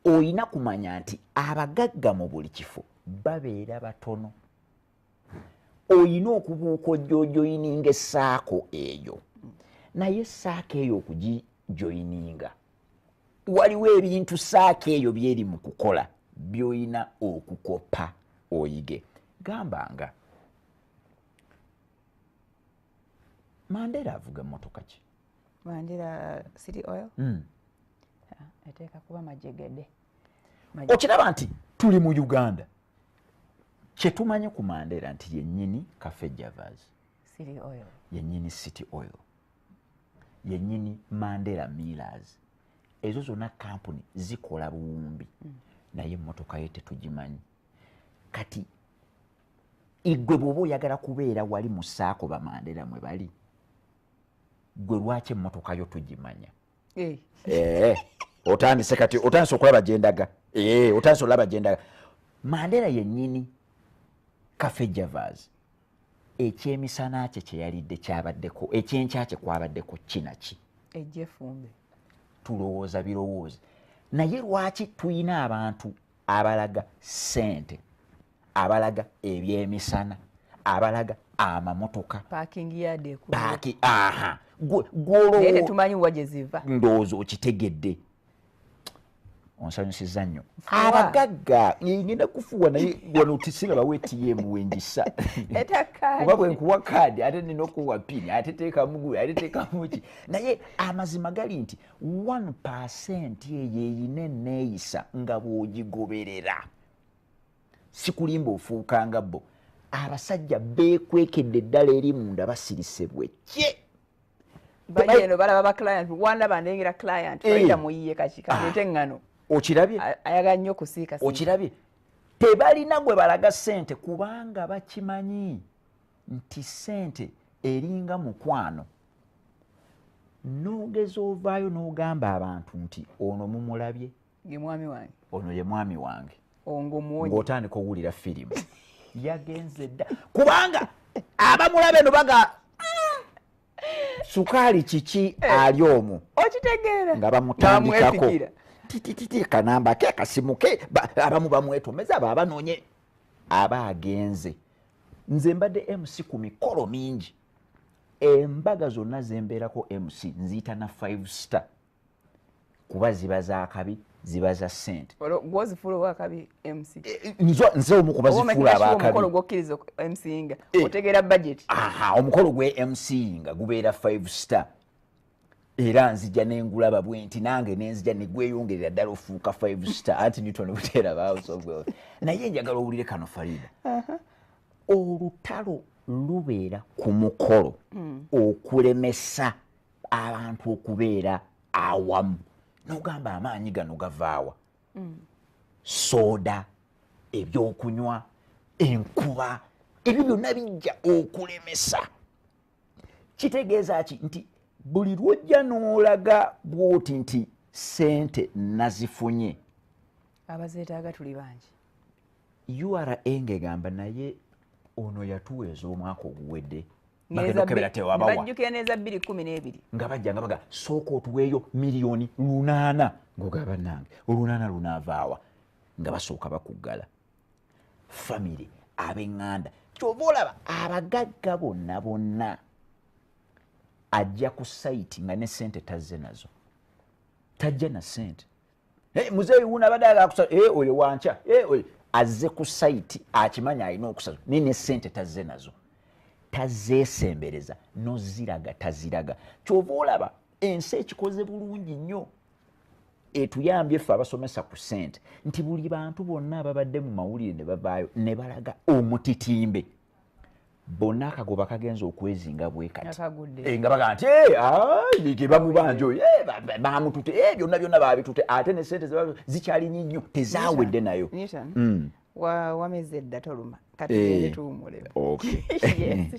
olina kumanya nti abagagga mu buli kifo babeera batono olina okubuuka ojojoyininga esaako eyo naye esaako eyo okugijoyininga waliwo ebintu saako eyo byeri mu kukola byolina okukopa oyige gamba nga mandera avuga motoka ki wandira city oil mm. eteeka kuba majegede okiraba nti tuli mu uganda kyetumanyi ku mandera nti yenyini cafe javas yenyini city oil yenyini mandera millers ezo zonna kampuni zikola buwumbi mm. naye emotoka ye tetugimanyi kati igwe bwoba oyagala kubeera wali musaako bamandera mwe bali gwe lwaki emmotoka yo tugimanya eh. Eh, otandise kati otandise okulaba gyendaga eh, otandise olaba gyendaga mandera yennyini cafe javas ekyemisana kye kyeyalidde kyabaddeko ekyenkya kye kwabaddeko kinaki ejefumbe tulowooza birowooza naye lwaki tulina abantu abalaga sente abalaga ebyemisana abalaga amamotoka ndowooza okitegedde onsanyusiza nnyo abagagga ngenda kufuwa naye wano tisingabawo etm wengisa oba bwenkuwa kaadi ate nina okuwa pini ate tekamugu ate tekamuki naye amazima gali nti one percent eyo eyina eneeyisa nga bwogigoberera sikulimba ofuuka nga bo abasajja beekwekedde eddala eri munda basirise bwekye baeno balaba ba client wandaba ndengera client eh. faida muyiye kakikaete ah. ngano okirabye ayagala nnyo okusiika okirabye tebalina gwe balaga sente kubanga bakimanyi nti sente eringa mukwano nogeza ovaayo nogamba abantu nti ono mumulabye ono ye mwami wange ngaotandika owulira firimu yagenze dda kubanga abamulabe no baga mm, sukaali kiki eh, ali omu okitegeera nga bamutandikako titititi kanamba ke kasimu ke abamu bamwetomeza abo abanonye aba agenze nze mbadde mc ku mikolo mingi embaga zonna zembeerako mc nziyita na five star kuba ziba zakabi ziba za sente eh, eh, nze omu kubazifuula abakabiomukolo gwe mc nga gubeera five star era nzija nengulaba bwenti nange nenzija negweyongerera ddala ofuuka five star anti newton buteera house of wealth naye njagala owulire kano farida uh-huh. olutalo lubeera ku mukolo mm. okulemesa abantu okubeera awamu nogamba amaanyi gano gavaawa mm. soda ebyokunywa enkuba ebyo byonna bijja okulemesa kitegeeza ki nti buli lwojja n'olaga bwoti nti sente nazifunye abazeetaaga tuli bangi ura ngegamba naye ono yatuwa ez'omwaka oguwedde bajjukira neza bbiri kumi n'ebiri nga bajja nga baga sooka otuweeyo miliyoni lunaana ngaoga bannange olunaana lunaavaawa nga basooka bakuggala famire ab'eŋŋanda kyova olaba abagagga bonna bonna ajja ku sayiti nga ne sente tazze nazo tajja na sente eh, muzeeyi wuno abadde agakusa eh, oyo wankya eh, azze ku sayiti akimanya alina okusaza naye ne sente tazze nazo tazeesembereza noziraga taziraga kyova olaba ensi ekikoze bulungi nnyo etuyambye ffe abasomesa ku sente nti buli bantu bonna ababadde mu mawulire ne bavaayo ne balaga omutitimbe bonna akagoba kagenza okwezinga bwekati eh, nga baga nti eh, bamubanja oyo eh, bamutute byonna byonna babitute ate ne sente zikyalinnyi nnyo tezawedde nayo hmm. wameze edda toluma kati tuwumulemu